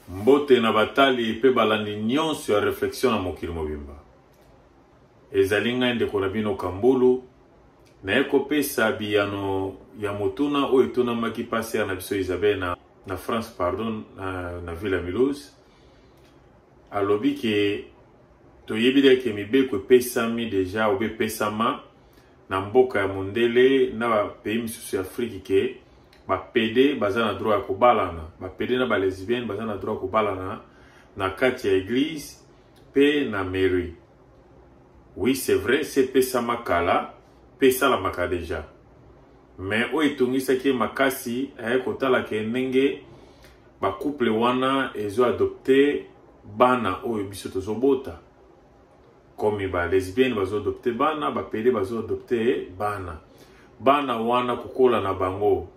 Mbote na batali mpe balandi nyonso ya Reflexion na mokili mobimba. Ezali ngai ndeko na bino Kambulu, naye kopesa biyano ya motuna oyo etunamaki pasteur na biso Isabelle na, na France pardon, na, na ville ya Mulhouse. Alobi ke toyebi deke mibeko epesami deja obe epesama na mboka ya mondele na ba pays misusu ya Afrique ke ba pede baza na droit ya kobalana ba pede na ba lesbienne baza na droit ya kobalana na kati ya eglise pe na mairie oui c'est vrai sepesama kala pe esalamaka deja mais oyo etongisaki ye makasi aye kotala ke ndenge bacouple wana ezo adopte bana oyo biso tozobota komi ba lesbienne bazo adopte bana bapede bazo adopte bana bana wana kokola na bango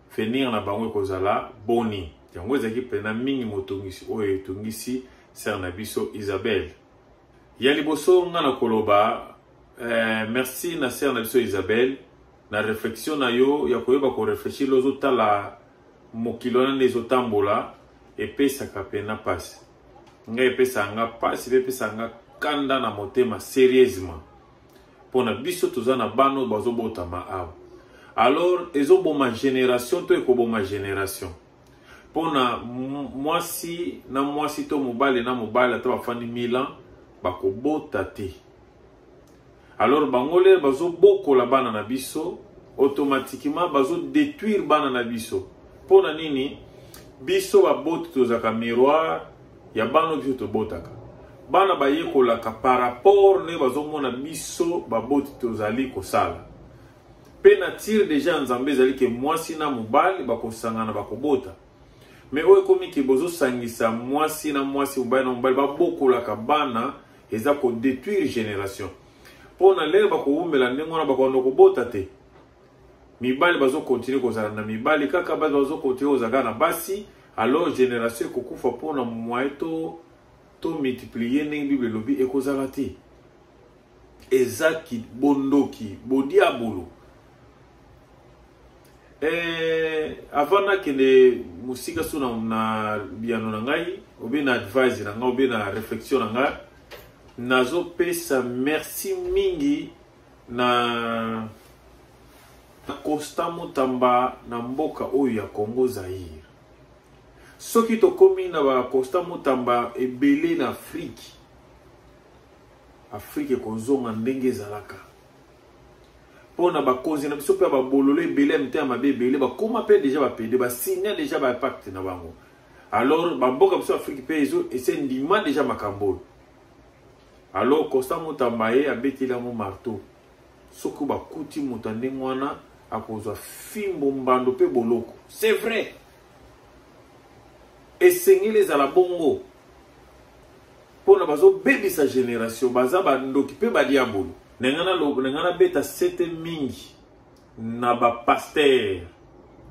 fenir na bango ekozala boni yango ezalaki mpena mingi motungisi oyo etungisi sere na biso isabelle ya liboso nga na koloba eh, merci na sere na biso isabelle na reflexion na yo ya koyeba koreflechir ozotala mokili wana nde ezotambola epesaka mpena mpasi nga epesaka nga mpasi mpe epesaka nga kanda na motema serieusement mpo na biso toza na bana oyo bazobotama awa alors ezoboma génération to ekoboma génération mpo na mwasi na mwasi to mobali na mobali ata bafandi 1000 ans bakobota te alors bango lere bazobokola bana na biso automatiquement bazodétruire bana na biso mpo na nini biso baboti tozalaka miroir ya bana biso tobotaka bana bayekolaka par rapport nde bazomona biso baboti tozali kosala mpe na tire deja ya nzambe ezali ke mwasi na mobali bakosangana bakobota me oyo ekomi ke bozosangisa mwasi na mwasi mobali na mobali babokolaka bana eza ko detruire generation mpo na lere bakowumela ndenge wana bakoanda kobota te mibali bazokontinue kozala na mibali kaka basi bazokontinue kozala kaka na basi alors generation ekokufa mpo na moye to to multiplier ndenge bible elobi ekozala te eza bondoki bodiabolo Eh, avant nakende mosika so na, na biyano na ngai obe na advise na ngai obe na réflexion na ngai nazopesa merci mingi na na constant motamba na mboka oyo ya congo zaire soki tokomi na baconstant motamba ebele na afrike afrike ekozonga ndenge ezalaka mpo na bakonzi na biso mpe ya babololo ebele ya mitema mabe ebele bakoma mpe deja bapede basigna deja bapacte na bango alors bamboka biso afrike mpe ezo ese ndima deja makambo oyo alors constant motamba ye abeteli yango marteau soki bakuti moto ya ndenge wana akozwa fimbo mbando mpe boloko c'est vrai esengeli ezala bongo pona bazo bebisa generation baza ba ndoki pe ba diabolo na nga na lobo na nga na beta sete mingi na ba pasteur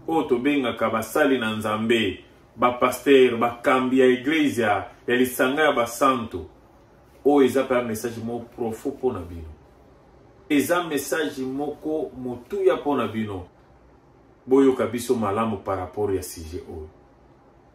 oyo tobengaka basali na nzambe bapastere bakambi ya eglezia ya lisanga ya basanto oyo eza mpe ya message moko profo mpo na bino eza message moko motuya mpo na bino boyoka biso malamu par rapport ya sujet oyo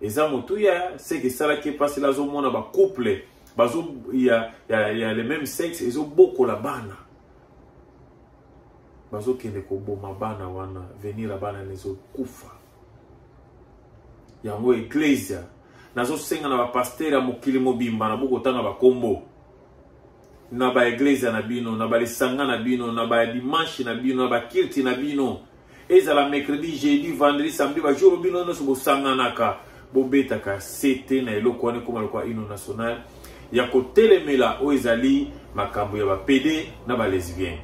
eza motuya seke esalaki mpasi la azomona bacouple bazo ya, ya, ya le même sexe ezobokola bana bazokende koboma bana wana venir ya bana nezokufa yango eklesia nazosenga na bapastere ya mokili mobimba na bokotanga bakombo na baeglezia na bino na balisanga na bino na badimanshi na bino na bakilti na bino ezala mercredi jeudi vendredi samedi bajour bino nyonso bosanganaka bobetaka sete na eloko wana ekoma lokola ino national ya kotelemela oyo ezali makambo ya bapede na balesbienne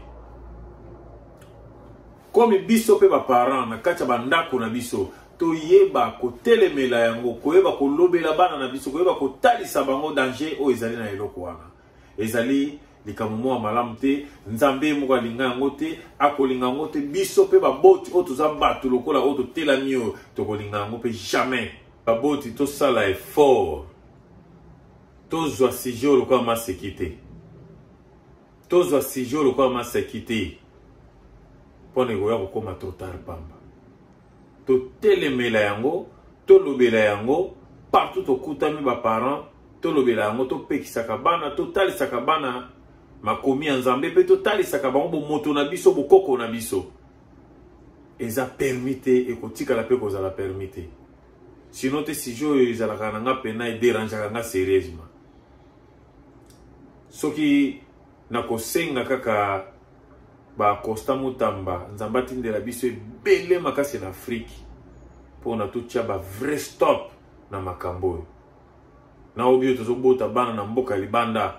komi biso mpe baparent na kati ya bandako na biso toyeba kotelemela yango koyeba kolobela bana na biso koyeba kotalisa bango danger oyo ezali na eloko wana ezali likambo moko ya malamu te nzambe ye moko alinga yango te akolinga yango te biso mpe baboti oyo toza bato lokola oyo totelami oyo tokolinga yango mpe jamais baboti tosala effort tozwa sujet oyo lokola maseki te tozwa sujet oyo lokola maseki te mpo na ekoya kokóma totar pamba totelemela yango tolobela yango partout tokutami baparent tolobela yango topekisaka bana totalisaka bana makomi ya nzambe mpe totalisaka bango bomoto na biso bokoko na biso eza permi te ekotikala mpe kozala permi te sino te sujet oyo ezalaka na nga mpena ederangeaka nga serieusement soki nakosenga kaka ba constant mutamba nzambe atindela biso ebele makasi na afrike mpo na totya ba vrai stop na makambo oyo na obi oyo tozobota bana na mboka libanda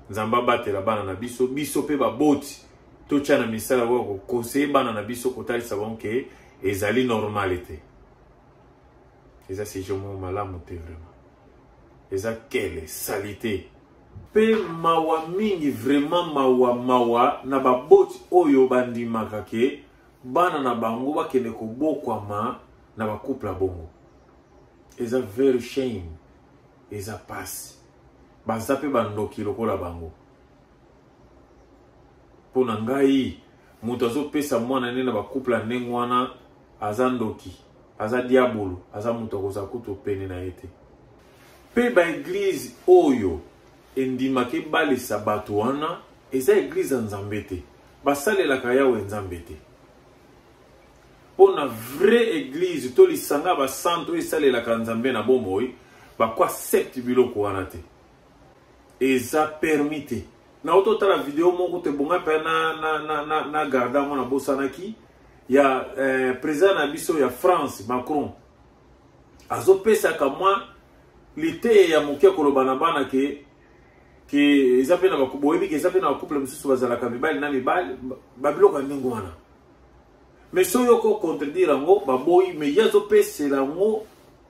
nzambe abatela bana na biso biso mpe baboti totya na misala oyo kokonseye bana na biso kotalisa bango ke ezali normale te eza sijo moko malamu te vraiment eza kele salite Pe mawa mingi vraiment mawa mawa na baboti oyo bandimaka ke bana na bango bakende kobokwama na bacouple bongo eza very shame eza pasi baza mpe bandoki lokola bango mpo na ngai moto azopesa mwana nde na bacouple ya ndenge wana aza ndoki aza diabolo aza moto akozala kutu pene na ye te Mpe baeglize oyo endimaka ebalisa bato wana eza eglize ya nzambe te basalelaka yawe nzambe te mpo na vraie eglize to lisanga basanto esalelaka nzambe na bomoi bakoaccepte biloko wana te eza permi te nauti otala video moko te bonga mpe na, na, na, na, na garde yango nabosanaki ya eh, président na biso ya france macron azopesaka mwa liteya ya moke koloba na bana ke ke eza mpe na boyebi ke eza mpe na bacouple mosusu bazalaka mibali na mibali babiloko ya ndenge wana me so yo ko contredire yango baboyi me ye azopesela yango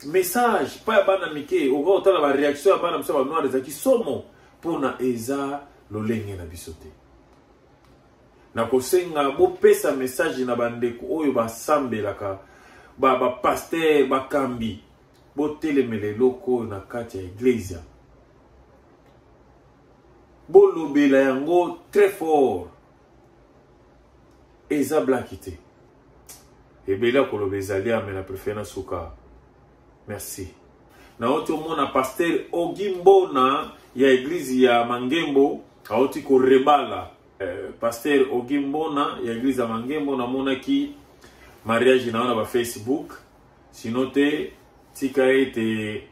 message mpa ya bana mike okoki kotala bareaction ya bana mosusu ya banoir ezalaki somo mpona eza lolenge na biso te nakosenga bopesa message na bandeko oyo basambelaka bapaster ba bakambi botelemela eloko oyo na kati ya eglezia bolobela yango très fort eza blaki te ebele ya koloba ezali ame na prefere na suka Merci. Naoti omona pasteur Ogi Mbona ya eglise ya Mangembo aoti korebala eh, pasteur Ogi Mbona ya eglise ya Mangembo namonaki mariage na yo na ba Facebook sino te tika ete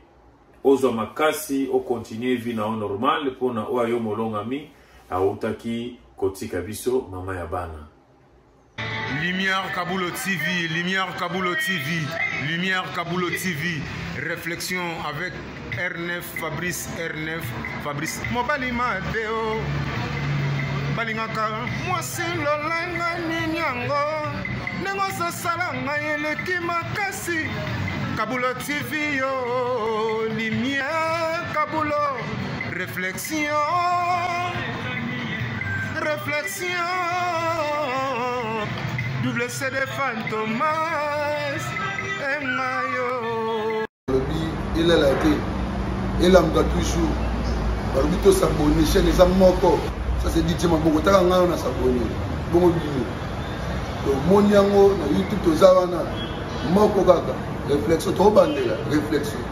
ozwa makasi okontinue vie na yo normal mpo na oyo ayo molongami autaki kotika biso mama ya bana Lumière Kabulo TV, Lumière Kabulo TV, Lumière Kabulo TV, réflexion avec R9, Fabrice R9, Fabrice. Mobali Mateo, balingaka mwasi lolanga nini yango ndenge ozosala ngai eleki makasi kabulo tv yo limia kabulo réflexion Réflexion, double CD Fantomas, et Mayo. Il est là, il est là, toujours. balobi tosabone chaine eza moko ça c'est dit tima bongo taka ngai na sabone bongo bino tomoni yango na youtube toza wana moko kaka réflexion tobandela réflexion